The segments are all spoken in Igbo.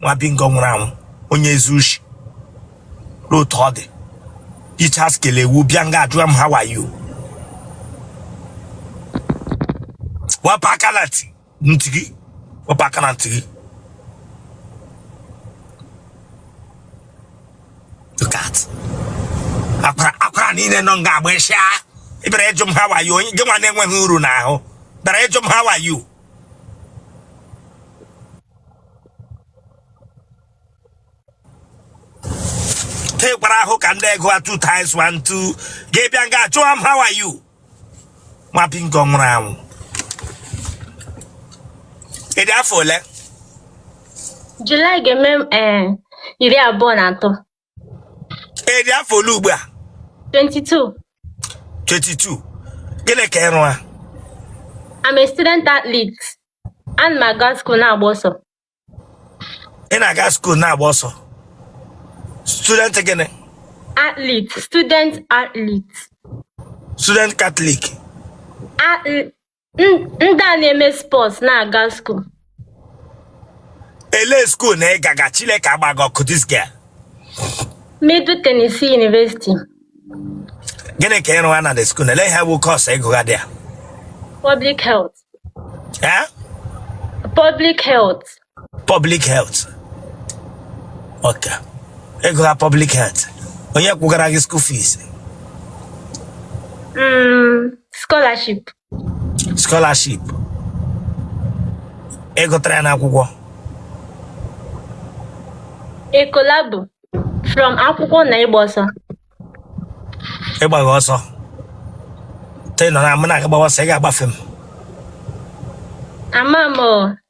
nwa bingo nwụrụ anwụ onye ezi ushi otu ọ dị ichas kele ewu bịa nga ajụwa m how are you wepụ aka na ntị gị wepụ aka na ntị gị look at akwara akwara niile nọ nga agba ịsha ịbịara ịjụ m how are you gị nwa na-enweghị uru n'ahụ bịara ịjụ m how are you tekwara ahụ ka ndị ego a two times one two gị abịa nga ajụwa m how are you nwa bingo nwụrụ anwụ ịdị afọ ole Julaị ga-eme eh, iri abụọ na atọ ịdị afọ ole ugbu a 22. 22 gịnị ka ịrụwa I'm a student athlete. Ana m aga school na-agba ọsọ. ị na-aga skuul na-agba ọsọ student gịnị Athlete, student athlete. student katọlik Athl- ndị a na-eme spọts na-aga skuul ele skuul na ịgaga Chineke agbaghị ọkụ this girl Middle Tennessee University gịnị ka ịrụwa na the skuul ele ihe bụ kọọsụ ịgụgha there public health eh? public health public health okay ịgụgha public health onye kwụgara gị school fees Mm, scholarship. scholarship ịgụtara ya n'akwụkwọ A collabo from akwụkwọ na ịgba ọsọ. ịgbagha ọsọ tee nọ na mụ na gị gbawa ọsọ ị ga-agbafe m Ama m o,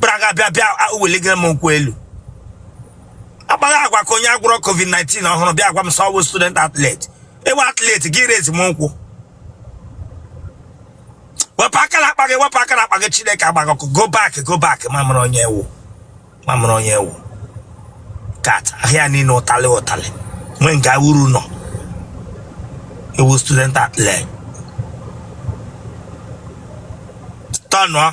bịara ga bịa bịa a- weligara m nkwụ elu akpagha agwa ka onye agwọrọ covid-19 ọhụrụ bịa gwa m sị ịwụ student athlete ịwụ athlete gị raise m nkwụ wepụ aka na akpa gị wepụ aka na akpa gị chineke agbaghị ọkụ go back go back ma m mara onye ịwụ ma m mara onye ịwụ look at ahụ ya niile ụtalị ụtalị nwee nga uru nọ ịwụ student athlete tọnụọ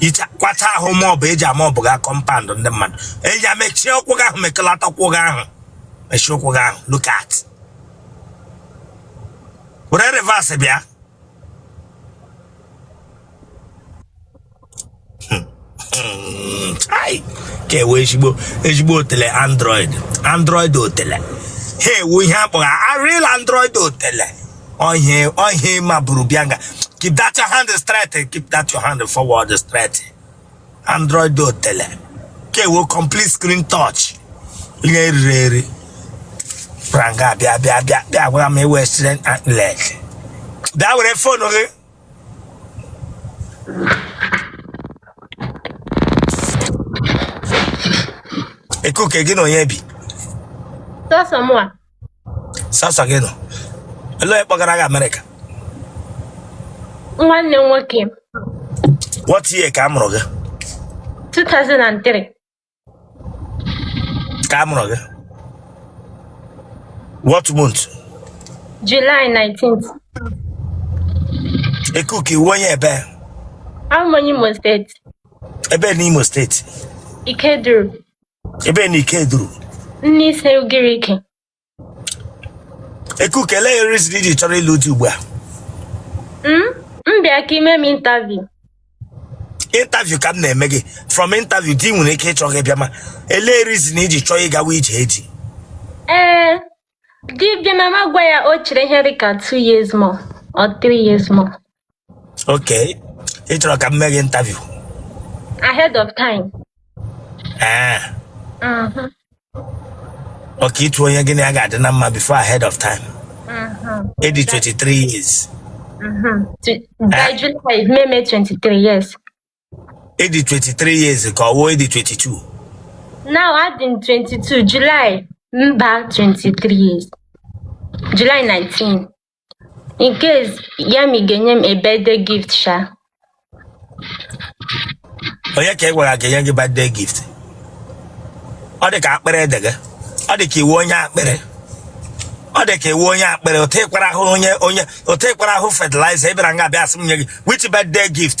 ichekwacha ahụ ma ọ bụ eji ama ọ bụ gaa kọmpand ndị mmadụ eji ya mechie ụkwụ gị ahụ mekọlata ụkwụ gị ahụ mechie ụkwụ gị ahụ look at were reverse bịa Chai! ka nwee ezigbo ezigbo otele android android otele ha wụ ihe akpọgha real android otele Ohe, ohe ma buru bịa nga. Keep that your hand straight. Keep that your hand forward straight. Android otele. Nke wụ complete screen touch. Ihe riri eri. Pụra nga bịa bịa bịa bịa gwara m ewe student and leg. Bịa were fon gị. Ekuke gị na onye bi. Sọsọ mụwa. sọsọ gị nọ ele onye kpọgara gị amerịka nwanne m nwoke what year ka a mụrụ gị 2003 ka a mụrụ gị what month July 19th ekuke ị wụ onye ebe abụ m onye Imo steeti ebe n'Imo steeti Ikeduru ebe n'Ikeduru Nneise Ugirike ekuke elee reason i ji chọrọ ịlụ di ugbu a Mm, m bịa ka i mee m interview interview ka m na-eme gị from interview di nwere ike ịchọ gị bịa ma elee reason i ji chọọ ịgawa ije di ee di bịa na m agwa ya o chere ihe dị ka two years more or three years more okay ị chọrọ ka m mee gị interview ahead of time ee Mhm, ọ ka ịtụ onye gị na ya ga-adị na mma before ahead of time mhm, ị dị 23 years mhm. Tw- by July m emee 23 yes ị dị 23 years ka ọ wụ ị dị 22 Now adị m 22 July m baa 23 years July 19 in case ma ị ga-enye m a birthday gift sha onye ka ị gwara ga-enye gị birthday gift ọ dị ka akpịrị dị gị ọ dị ka ị wụ onye akpịrị ọ dị ka ị wụ onye akpịrị otu ị kwara ahụ onye onye otu ị kwara ahụ fertilizer ị bịara nga bịa asị m nye gị which birthday gift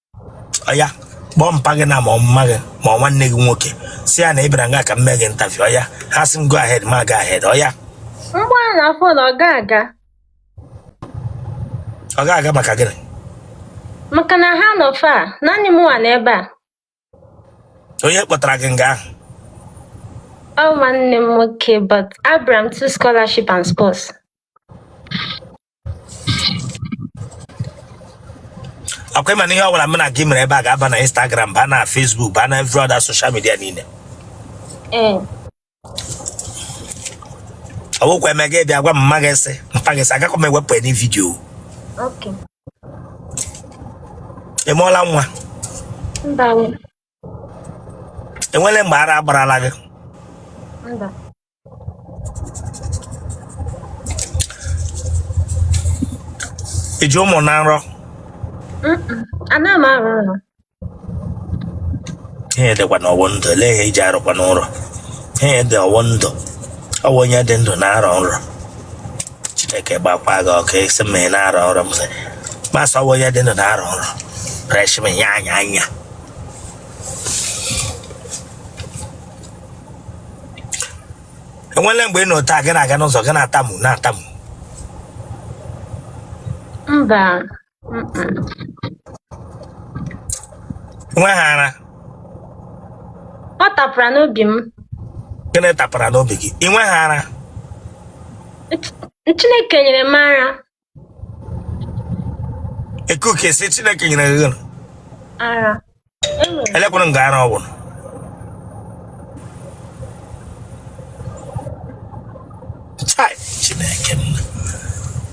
ọya kpọọ mpa gị na ma ọ mma gị ma ọ nwanne gị nwoke sị ya na ị bịara nga ka m mee gị interview ọya ha sị m go ahead mụ ga ahead ọya mgbe a na fon ọ ga-aga ọ ga-aga maka gịnị maka na ha nọ far naanị m nwa n'ebe a onye kpọtara gị nga ahụ ọ nwanne m nwoke but abịara m through scholarship and sports ọkwa ị ma na ihe ọbụla m na gị mere ebe a ga-aba na Instagram baa na Facebook baa na every other social media niile ee ọ bụkwa eme gị bịa gwa m mma gị sị mpa gị sị agakwa m ewepụ any video okay ị mụọla nwa mba enwere mgbe ara agbarala gị mba iji ahụ mmụọ na nrọ Mm-mm. anaghị m arọ nrọ ihe dịkwa na ọwụ ndụ lee ihe eji arọkwa nrọ ihe dị ọwụ ndụ ọwụ onye dị ndụ na-arọ nrọ chineke gbakwa gị ọkụ ị sị mụ na-arọ nrọ m sị masị ọwụ onye dị ndụ na-arọ nrọ reshmi ya anya anya enwele mgbe ị nọ taa gị na-aga n'ụzọ gị na-atamu na-atamu mba mm-mm. nwe ha ara ọ tapara n'obi m gịnị tapara n'obi gị ị nwe ha ara Ch- chineke nyere m ara ekuke sị chineke nyere gị gịnị ara enwere elekwanụ nga ara ọwụ chai chineke m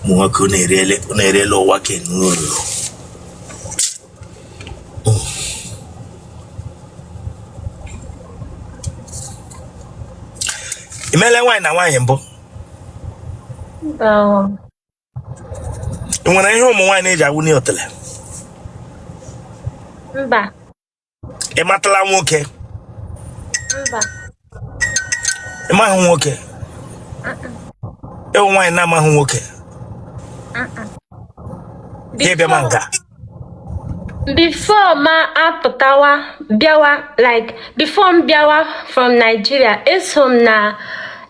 ụmụ nwoke unu eriele unu eriele ụwa ka enu uru imele nwaanyị na nwaanyị mbụ ị nwere ihe ụmụ nwaanyị na-eji awụnye otele mba ị matala nwoke mba ị maghị nwoke ịwụ nwaanyị na-amaghị nwoke gị bịa ma nka before ma apụtawa bịawa like before m bịawa from Nigeria eso m na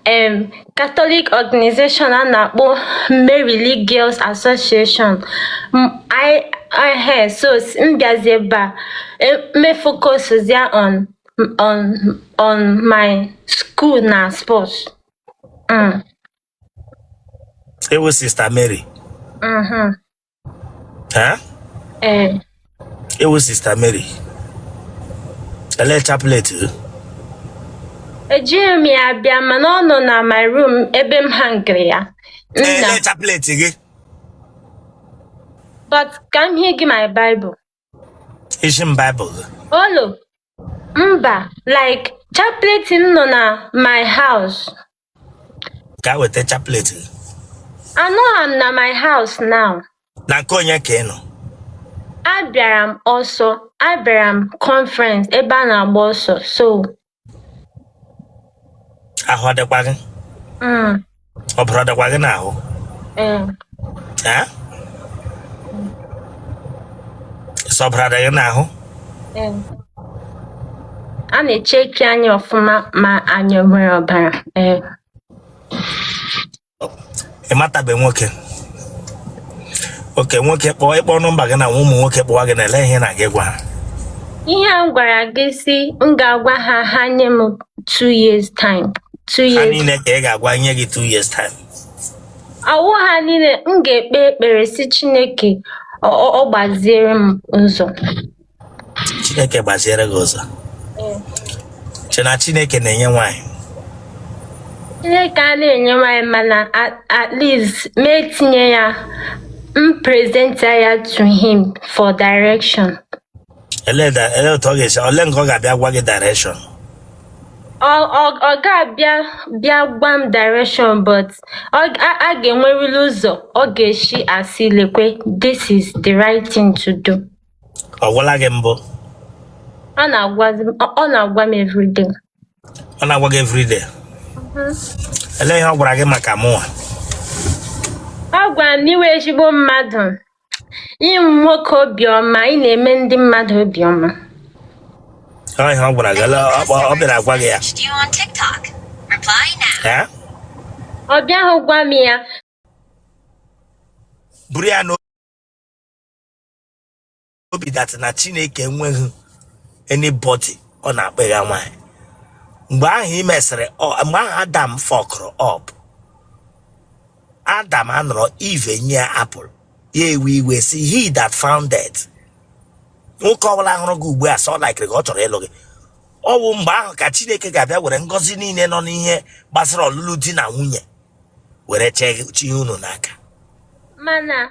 um, Catholic organization a na-akpọ Mary League Girls Association M- ehee so s- m bịazi ebe a e- me focus ya on on on my school na sports mm, Ịwụ Sista Mary. mhm. ha ee ịwụ sista mary ele chaplet ejighị m ya bịa mana ọ nọ na my room ebe m hangiri ya nna ele chaplet gị but ka m hie gị my bible isi m baịbụl gị olo mba like chaplet m nọ na my house gaa weta chaplet gị Anọ m na my house now. na nke onye ka ị nọ Abịara m ọsọ. Abịara m conference ebe a na-agba ọsọ. So, ahụ adịkwa gị mm, ọbara adịkwa gị n'ahụ eh, ee sị ọbara adị gị n'ahụ a na-echeki anyị ọfụma ma anyị nwere ọbara ee ị matabe nwoke okay nwoke kpọọ ịkpọ nọmba gị na ụmụ nwoke kpọwa gị na ele ihe ị na-aga ịgwa ha ihe a m gwara gị si m ga-agwa ha ha nye m 2 years time 2 years ha niile ka ị ga-agwa nye gị 2 years time ọ wụ ha niile m ga-ekpe ekpere si Chineke ọ ọ- ọ gbaziere m ụzọ chineke gbaziere gị ụzọ che na chineke na-enye nwaanyị Chineke a na-enye nwanyị mana at- at least m etinye ya m present ya to him for direction Ele da- ele otu ọ ga-esi ole nke ọ ga-abịa gwa gị direction ọ ọ- ọ ga-abịa bịa gwa m direction but ọ g- a a ga-enwerịrị ụzọ ọ ga-esi asị lekwe this is the right thing to do ọ gwala gị mbụ ọ na-agwazi m- ọ ọ na-agwa m everyday ọ na-agwa gị everyday ele ihe ọ gwara gị maka mụnwa ọ gwara m na ị wụ ezigbo mmadụ ị wụ nwoke obiọma ị na-eme ndị mmadụ obiọma Ọ ihe ọ gwara gị ele- ọ kpọ- ọ bịara agwa gị ya eh ọ bịaghị gwa m ya buru ya n'obi dat na chineke enweghị anybody ọ na-akpịgha nwaanyị mgbe ahụ e mesịrị ọ- mgbe ahụ adam fọkụrụ up adam anọrọ eve enye ya apple ya ewe iwe si he that findeth nwoke ọbụla hụrụ gị ugbu a sị ọ laikiri gị ọ chọrọ ịlụ gị ọ bụ mgbe ahụ ka chineke ga-abịa were ngọzi niile nọ n'ihe gbasara ọlụlụ di na nwunye were chi- chie unu n'aka mana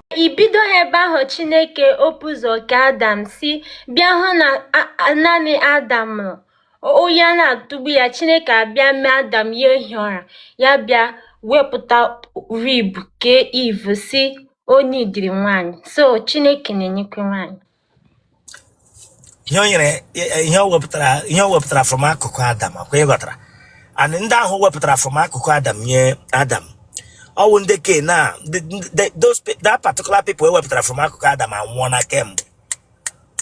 ibido ebe ahụ chineke o bu ụzọ kee adam si bịa hụ na naanị adam nọ oyi ana-atụgbu ya chineke abịa mee adam ya ehi ụra ya bịa wepụta rib kee eve si onye idiri nwanyị so chineke na-enyekwa nwanyị ihe o nyere ihe o wepụtara ihe o wepụtara from akụkụ adam ọkwa ị ghọtara and ndị ahụ e wepụtara from akụkụ adam nye adam ọ wụ ndị ke na the- the- those pe- that particular people e wepụtara from akụkụ adam anwụọna kemgbe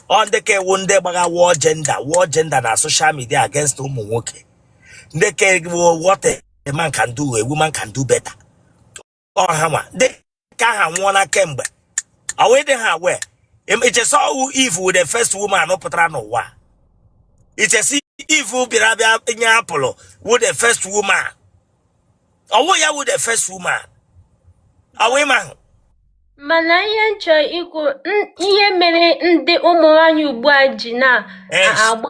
ọ ndị ke a wụ ndị gbagha war gender war gender na social media against ụmụ nwoke ndị ke a wụ what a man can do a woman can do better ọha nwa dị ka aha nwụọla kemgbe ọwụ ịdị ha wee i che sị ọ wụ Eve wụ the first woman pụtara n'ụwa i che sị Eve bịara bịa nye apple wụ the first woman ọ wụ ya wụ the first woman ọ wụ ịma ahụ mana ihe m chọrọ ikwu n- ihe mere ndị ụmụ nwaanyị ugbu a ji na-agba mbọ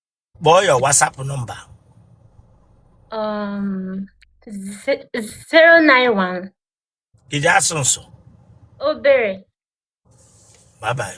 kpọọ your WhatsApp number um, ze- 091 i ji asụ nsụ obere bye bye